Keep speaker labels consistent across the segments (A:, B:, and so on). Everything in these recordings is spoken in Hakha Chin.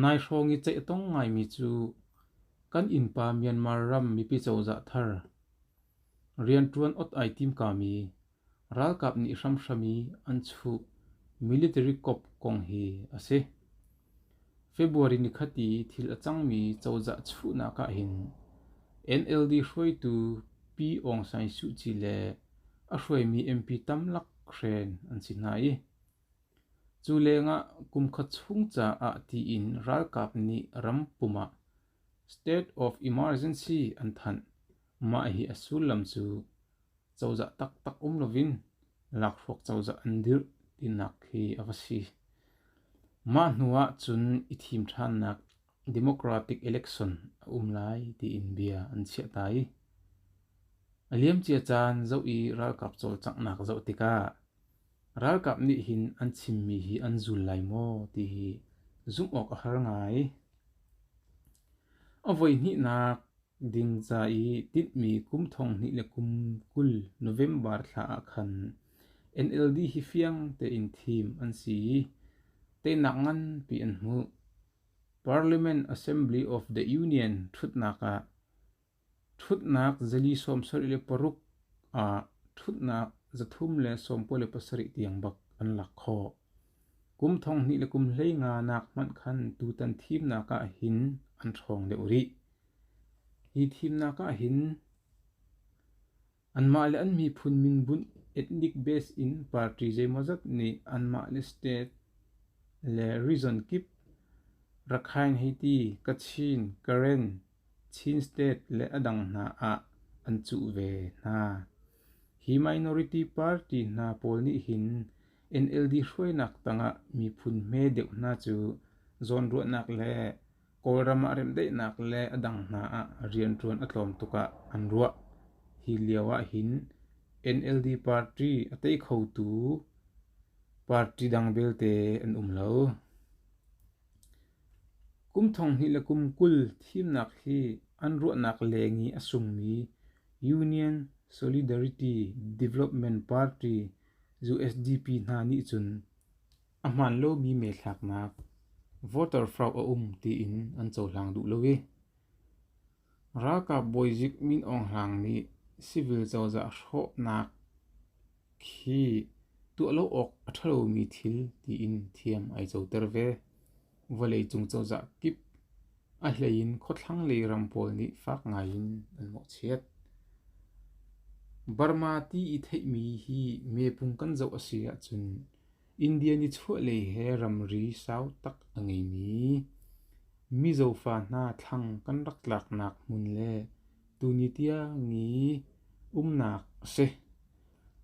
A: Nai hrawng i ceih a tong ngaimi cu kan innpa Myanmar ram mipi cozah thar rianṭuan ot ai timkami ralkap nih hramhram i an chuh military kop kong hi a si. February ni khat i thil a cangmi cozah chuhnak ahhin NLD hruaitu Pi Aung San Suu Kyi le a hruaimi MP tamlak hren an si hna i Cu lengah kumkhua chung caah tiin ralkap nih ram pum ah state of emergency an thanh. Mah hi a sullam cu cozah taktak um loin lakhruak cozah an dirh tinak khi a va si. Mah hnuah cun i thim ṭhannak democratic election a um lai tiin bia an chiahta i a liamcia caan zoh i ralkap cawlcanghnak zoh tikah Ralkap nih hin an chimmi hi an zul lai maw ti hi zumh awk a har ngai. A voihnihnak ding ca i tinhmi kum thonghnih le kum kul November thla ah khan NLD hi fiang tein thim an si i teinak nganpi an hmuh. Parliament Assembly of the Union ṭhutnak ah Ṭhutnak zali sawm sarih le paruk ah ṭhutnak zathum le sawmkua le pasarih tiang bak an lak khawh. Kum thong hnih le kum hleinga nak hmanh khan tutan thimnak ah hin an ṭhawng deuh rih. Hi thimnak ah hin Anmah le an miphun min bunh ethnic base in party zeimawzat nih anmah le state le region kip Rakhine, Haiti, Kachin, Karen, Chin State le a dang hna ah an cuh ve hna. Hi minority party hna pawl nih hin NLD hruainak tangah miphun hme deuh hna cu zawnruahnak le Kawlram ah remdaihnak le a dang hna ah rianṭuan a tlawm tuk ah an ruah. Hi lio ahhin NLD party a tei khotu party dang belte an um lo. Kum thong hnih le kum kul thimnak hi an ruahnak leng i a sungmi Union Solidarity Development Party, USDP, hna nih cun A hmaan lomi meethlaknak voterfrauh a um tiin an cohlang duh lo i ralkap bawizik Min Aung Hlaing nih civil cozah hrawhnak khi tuah lo awk a ṭha lomi thil tiin thiam ai coter ve. Vawleicung cozah kip a hleiin khuathlanglei ram pawl nih fak ngaiin an mawhchiat. Burma ti i theihmi hi meepung kan zoh a si ahcun India nichuahlei he ramri sau tak a ngeimi Mizofa hna thlang kan rak tlaknak hmun le tuni tiangi umnak a si.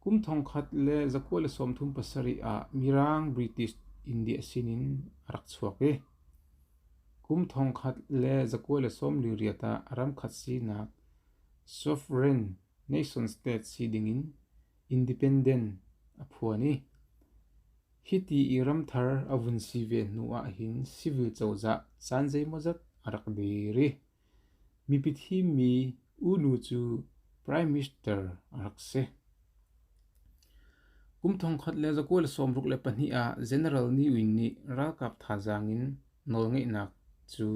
A: Kum thongkhat le zakua le sawmthum pasarih ah Mirang British India sinin a rak chuak i kum thongkhat le zakua le sawm li riat ah ram khat sinak sovereign nation state si dingin Independent a phuan i hiti i ramthar a vun si ve hnu ahhin civil cozah caan zeimawzat a rak dir i mipi thimmi u nu cu Prime Minister a rak si. Kum thongkhat le zakual sawmruk le pahnih ah General Ni Win nih ralkap thazaang in nawlngeihnak cu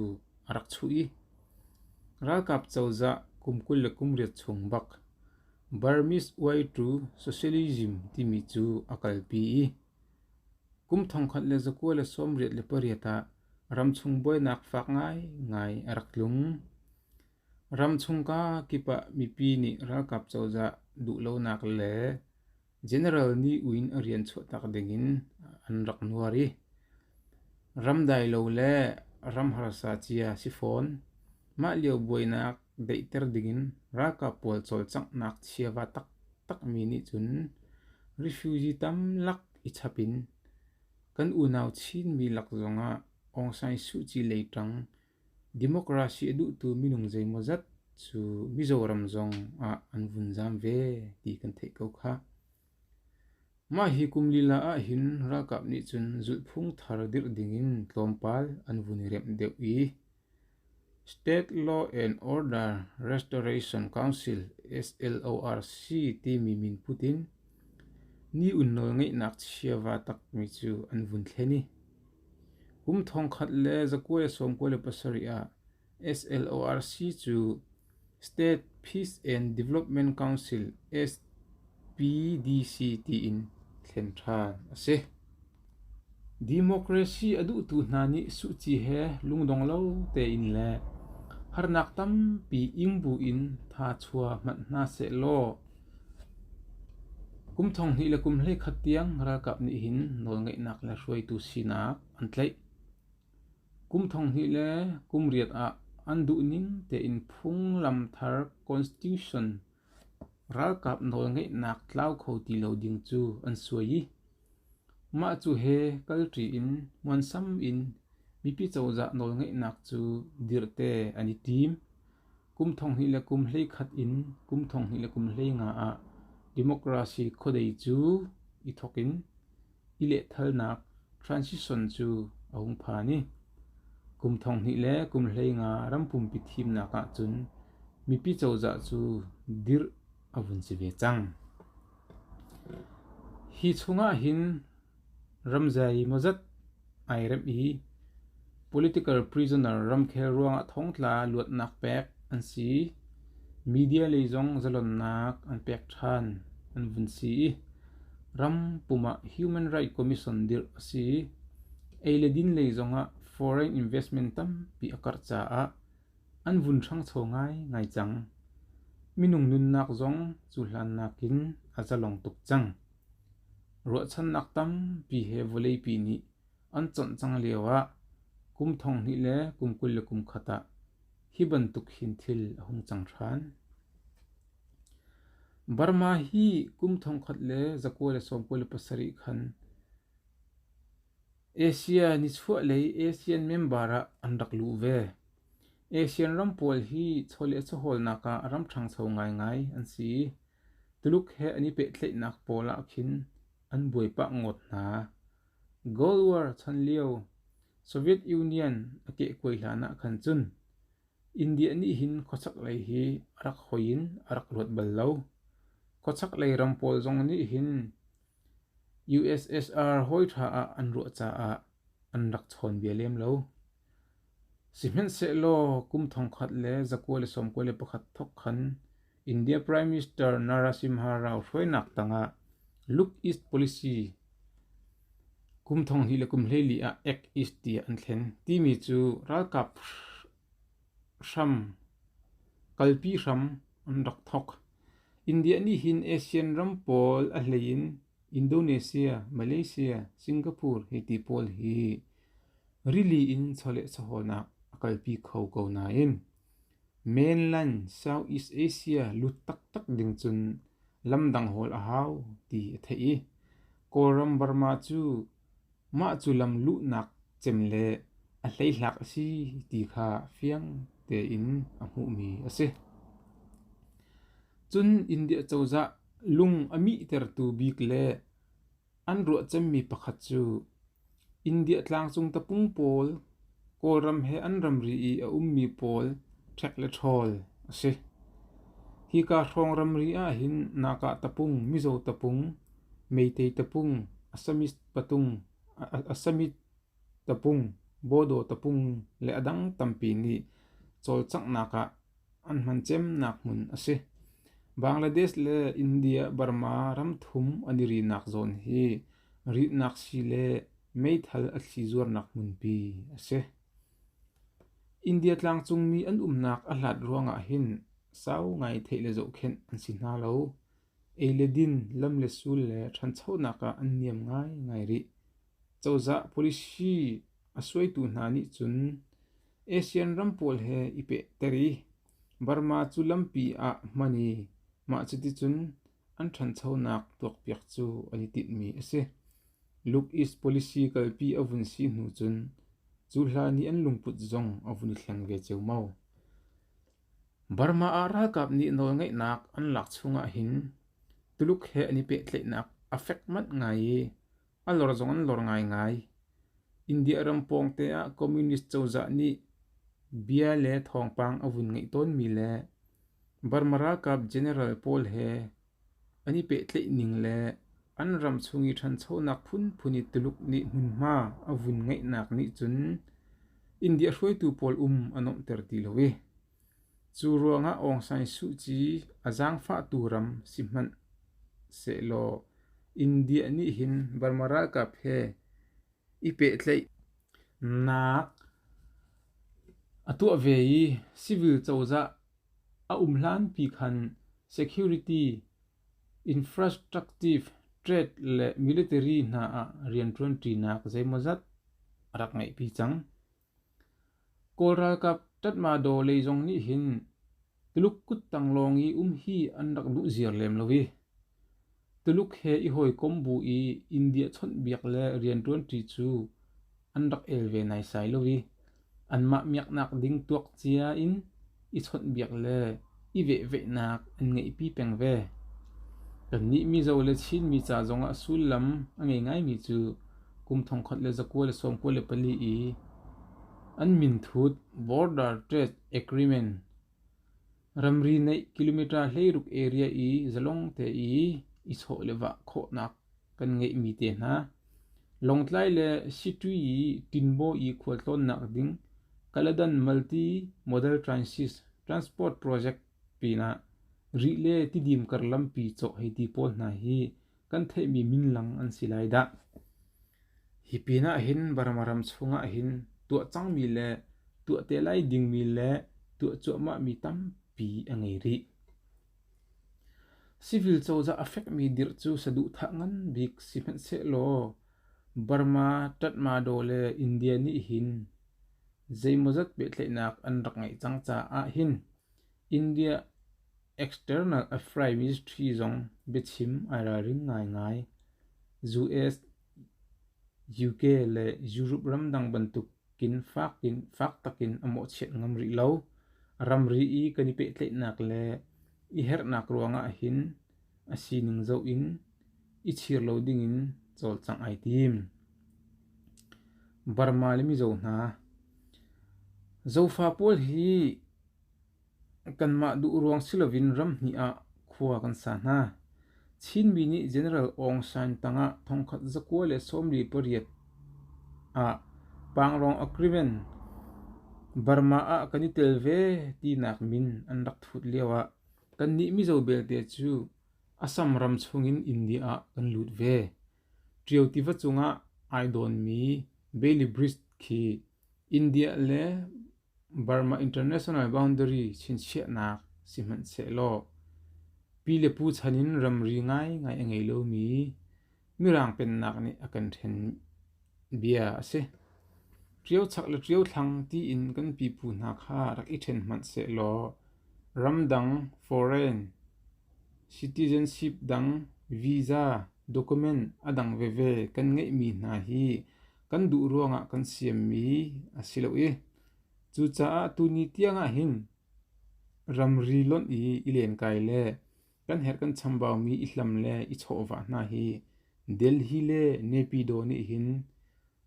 A: a rak chuh i ralkap cozah kum kul le kum riat chung bak Burmese Way to Socialism timi cu a kalpi i kum thongkhat le zakua le sawmriat le pariat ah ramchung buainak fak ngaingai a rak tlung. Ramchung ka kip ah mipi nih ralkap cozah duhlonak le General nih uinn a rian chuahtak dingin an rak nuar i ram dai lo le ram harsa cia si fawn. Mah lio buainak daihter dingin ralkap pawl cawlcanghnak chiava taktakmi nih cun refugee tamlak i chap in kan unau Chinmi lak zongah Aung San Suu Kyi lei ṭang Democracy a duhtu minung zeimawzat cu Mizoram zong ah an vun zaam ve ti kan theih ko khah. Mah hi kum lila ah hin ralkap nih cun zulhphung thar dirh dingin tlawmpal an vun i remh deuh i State Law and Order Restoration Council SLORC timi min put in ni un nawl ngeihnak chiava takmi cu an vun thlen i Kum thongkhat le zakuai sawmkua le pasarih ah SLORC cu State Peace and Development Council SPDC tiin thlen ṭhan a si. Democracy a duhtu hna nih suci he lungdong lo tein le harnak tampi ing buin tha chua hmanh hna seh law Kum thong hnih le kum hleikhat tiang ralkap nih hin nawlngeihnak le hruaitu sinak an tlaih. Kum thong hnih le kum riat ah an duhning tein phunglam thar Constitution ralkap nawlngeihnak tlau kho ti lo ding cu an suai i Mah cu he kalṭi in muansam in mipi cozah nawlngeihnak cu dirhte an i tim. Kum thonghnih le kum hleikhat in kum thonghnih le kum hleinga ah democracy khuadei cu i thawk in i lehthalnak transition cu a hung phan i kum thonghnih le kum hleinga ram pumpi thimnak ahcun mipi cozah cu dirh a vun si ve cang. Hi chungah hin ramzai mawzat ai rem i political prisoner ramkhel ruangah thongtla luatnak pek an si. Media lei zong zalonnak an pek ṭhan an vun si i ram pumah Human Rights Commission dirh a si. Ei le din lei zongah foreign investment tampi a karh caah An vun hrangchaw ngaingai cang. Minung nunnak zong cu hlan nakin a zalong tuk cang. Ruahchannak tampi he vawleipi nih an chonh cang lioah kum thonghnih le kum kul le kum khat ah hi bantuk hin thil a hung cang ṭhan. Burma hi kum thongkhat le zakua le sawmkua le pasarih khan Asia nichuahlei ASEAN member ah an rak luh ve. ASEAN ram pawl hi chaw le caholnak ah ram ṭhangcho ngaingai an si. Tuluk he an i pehtlaihnak pawl ah khin an buai pah ngawt hna. Cold War chan lio Soviet Union a kehkuai hlan ah khan cun India nih hin khuachaklei hi a rak hoi in a rak luat bal lo. Khuachaklei ram pawl zong nih hin USSR hawiṭha ah an ruah caah an rak chawn ve lem lo. Sihmanhsehlaw kum thongkhat le zakua le sawmkua le pakhat thok khan India Prime Minister Narasimha Rao hruainak tangah Look East Policy kum thonghnih le kum hleili ah Act East tiah an thlen timi cu ralkap Hram kalpi hram an rak thawk. India nih hin Asian ram pawl a hlei in Indonesia, Malaysia, Singapore hei ti pawl hi rili in chawleh chawhawlnak a kalpi kho ko nain mainland Southeast Asia lut taktak ding cun lamdang hawl a hau ti a theih i Kawlram Burma cu Mah cu lamluhnak cem le a hleithlak a si ti kha fiang tein a hmuhmi a si. Cun India cozah lung a mihtertu bik le an ruah cemmi pakhat cu India tlangcung tapung pawl Kawlram he an ramri i a ummi pawl ṭhek le ṭhawl a si. Hika hrawng ramri ahhin Nahkah tapung, Mizo tapung, Meitei tapung, Assamese patung, Assamese tapung, Bodo tapung le a dang tampi nih cawlcanghnak ah an hman cemnak hmun a si. Bangladesh le India-Burma ram thum an i rinak zawn hi Ritnak sii le meithal a thli zuarnak hmunpi a si. India tlangcungmi an umnak a hlat ruangah hin sau ngai theih le zohkhenh an si hna lo. Ei le din, lam le sul le ṭhanchonak ah an niam ngaingai rih. Cozah policy a suaitu hna nih cun ASEAN ram pawl he i pehter i Burma cu lampi ah hman i mah cuticun An ṭhanchonak tuakpiak cu an i tinhmi a si. Look East policy kalpi a vun si hnu cun cu hla nih an lungput zong a vun i thleng ve ceumau. Burma ah ralkap nih nawlngeihnak an lak chung ahhin Tuluk he an i pehtlaihnak a fek manh ngai i A lor zong an lor ngaingai. India ram pawngte ah Communist cozah nih bia le thawngpang a vun ngeih tawnmi le Burma ralkap general pawl he an i pehtlaih ning le an ram chung i ṭhanchonak phunphun i Tuluk nih hmunhma a vun ngeihnak nih cun India hruaitu pawl um a nuamhter ti lo i Cu ruangah Aung San Suh Kyi a zaangfahtu ram si hmanh sehlaw India nih hin Burma ralkap he i pehtlaih nak a tuah ve i civil cozah a um hlanpi khan security, infrastructive, trade le military hna ah rianṭuanṭinak zeimawzat a rak ngeihpi cang. Kawl ralkap Tatmadaw lei zong nih hin Tuluk kuttang lawng i um hi an rak duh ziar lem lo i Tuluk he i hawikom bu i India chawnhbiak le rianṭuanṭi cu an rak el ve naisai lo i anmah miaknak ding tuak cia in. i chawnhbiak le i vehveihnak an ngeihpi peng ve. Kannih Mizo le Chinmi ca zongah sullam a ngei ngaimi cu kum thongkhat le zakua le sawmkua le pali i an minthut Border Trade Agreement ramri neih kilometer hleiruk area i zalong te i i chawh le vah khawhnak Kan ngeihmi te hna: Lawngtlai le Sitwi i Tinbaw i khual tlawnnak ding Kaladan Multi-Modal Transport Project pinah rih le tidim kar lampi cawh hei ti pawl hna hi kan theihmi minlang an si lai dah. Hi pinah hin Burma ram chungah hin tuah cangmi le tuah te lai dingmi le tuah cuahmahmi tampi a ngei rih. Civil cozah a fekmi dirh cu saduhthah nganbik sihmanhsehlaw Burma, Tatmadaw le India nih hin zeimawzat pehtlaihnak an rak ngeih cang caah hin India External Affairs Ministry zong biachim ai ralring ngaingai. US, UK le Europe ramdang bantuk Inn fak in fak takin a mawhchiat ngam rih lo. Ramri i kan i pehtlaihnak le i herhnak ruangah hin a sining zoh in i chir lo dingin cawlcangh ai tim. Burma le Mizo hna Zofa pawl hi Kanmah duh ruang si loin ramhnih ah khua kan sa hna. Chinmi nih General Aung San tangah thongkhat zakua le sawmli pariat ah Pangrong Agreement Burma ah kan i tel ve tinak min an rak thut lioah kannih Mizo belte cu Assam ram chungin India ah kan lut ve. Ṭio tiva cungah ai dawnmi Bailey Bridge khi India le Burma International boundary chinchiahnak sihmanhsehlaw pi le pu chan in ramri ngaingai a ngei lomi Mirang pennak nih a kan hren bia a si. Ṭiochak le ṭiothlang tiin kan pipu hna kha rak i ṭhen hmanhsehlaw ramdang, foreign, citizenship dang, visa, document a dang veve kan ngeihmi hna hi kan duh ruangah kan siammi a si lo i cucaah tuni tiangah hin ramri lonh i i lenkai le kan herh kan chambaumi i hlam le i chawhvah hna hi Delhi le Nepido nih hin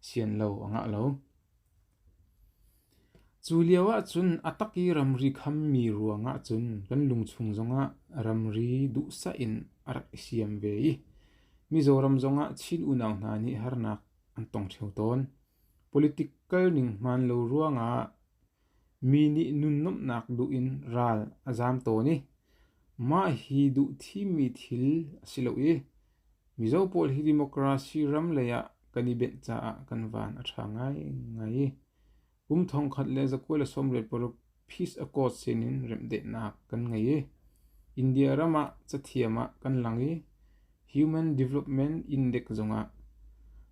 A: sian lo a ngah lo. Cu lio ahcun a tak i ramri khammi ruang ahcun kan lungchung zongah ramri duhsah in a rak i siam ve i Mizoram zongah Chin unau hna nih harnak an tong ṭheo tawn. Political ning hmaan lo ruangah mi nih nunnomhnak duh in ral a zaam tawn i mah hi duhthimmi thil a si lo i Mizo pawl hi democracy ram lei ah kan i benh caah kan van a ṭha ngaingai i kum thongkhat le za kul le sawmriat paruk Peace Accord sinin remhdehnak kan ngei i India ram ah cathiam ah kan lang i Human Development Index zongah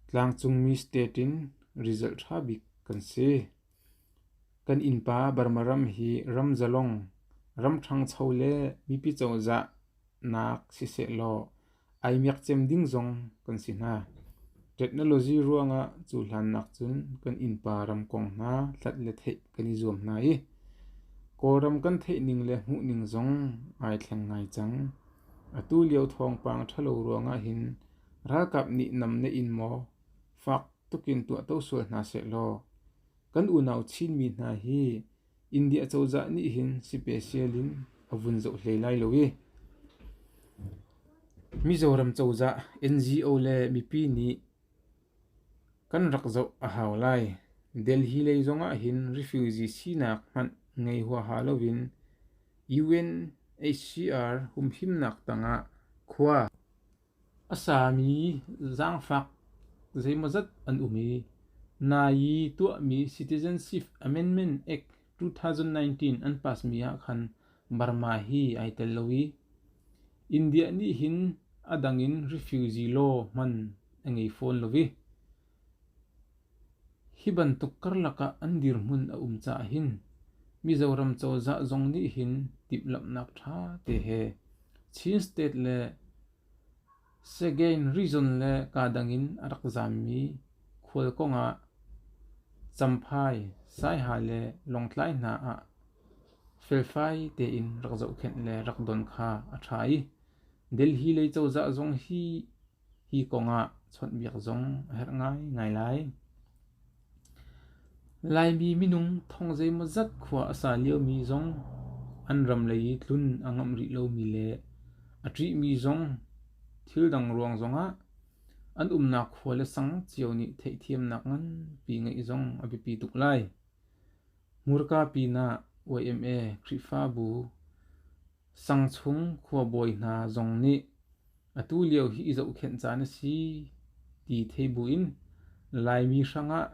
A: tlangcungmi state in result ṭha bik kan si. Kan innpa Burma ram hi ram zalong, ram ṭhangcho le mipi cozah nak sisehlaw ai miakcem ding zong kan si hna. Technology ruangah cu hlan nakcun kan innpa ram kong hna hlat le theih kan i zuam hna i Kawlram kan theih ning le hmuh ning zong ai thleng ngai cang. Atu lio thawngpang ṭhalo ruangah hin ralkap nih nam na in maw fak tukin tuahto sual hna sehlaw kan unau Chinmi hna hi India cozah nih hin sipesial in a vun zoh hlei lai lo i, Mizoram cozah NGO le mipi nih kan rak zoh a hau lai. Delhi lei zongah hin refugee sinak hmanh ngei huaha loin UNHCR humhimnak tangah khua A sami zaangfak zeimawzat an um i nai i tuahmi Citizenship Amendment Act two-thousand-nineteen an passmi ah khan Burma hi ai tel lo i India nih hin a dang in refugee law hman a ngei fawn lo i Hi bantuk karlak ah an dirhmun a um caah hin Mizoram cozah zong nih hin timhlamhnak ṭha te he Chin State le Sagaing Region le kaa dang in a rak zammi khualkong ah Champhai, Saiha le Lawngtlai hna ah felfai tein rak zohkhenh le rak don kha a ṭha i Delhi lei cozah zong hi Hi kongah chawnhbiak zong a herh ngaingai lai. Laimi minung thong zeimawzat khua a sa liomi zong an ram lei i tlun a ngamh rih lomi le a ṭihmi zong thildang ruang zongah an umnak khua le sang cio nih theihthiamnak nganpi ngeih zong a biapi tuk lai. Hmurka pinah YMA Khrihfabu Sangchung khuabawi hna zong nih atu lio hi i zohkhenh caan a si ti thei buin Laimi hrangah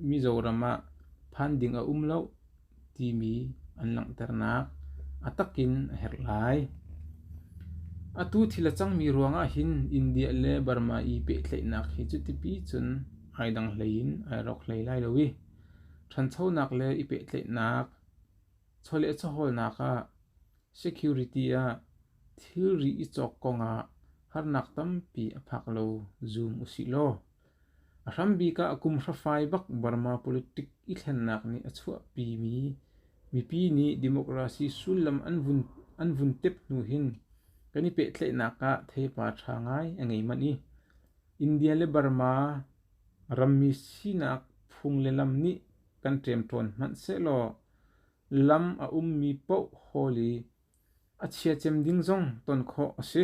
A: Mizoram ah phan ding a um loh timi an langhternak a tak in a herh lai. Atu thil a cangmi ruangah hin India le Burma i pehtlaihnak hi cu tipi cun ai dang hlei in ai rawk hlei lai lo i ṭhanchonak le i pehtlaihnak Chawleh caholnak ah security ah thilri i cawk kongah harnak tampi a phak lo zum usih law. A hrambik ah kum hrafai bak Burma politic i thlennak nih a chuahpimi mipi nih democracy sullam an vun, an vun tep hnu hin kan i pehtlaihnak ah theipar ṭha ngai a ngei manh i India le Burma rammi sinak phung le lam nih kan ṭem ṭhawn hmanhsehlaw lam a ummi paohhawl i a chiacem ding zong ton khawh a si.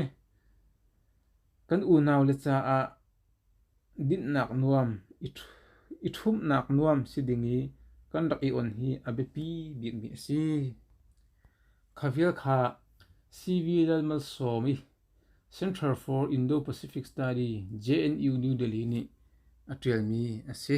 A: Kan unaule caah dinhnak nuam i ṭhumhnak nuam si ding i kan rak i on hi a biapi bikmi a si. Kha vial kha CV Lalmalsawm i Center for Indo-Pacific Study JNU New Delhi nih a ṭialmi a si.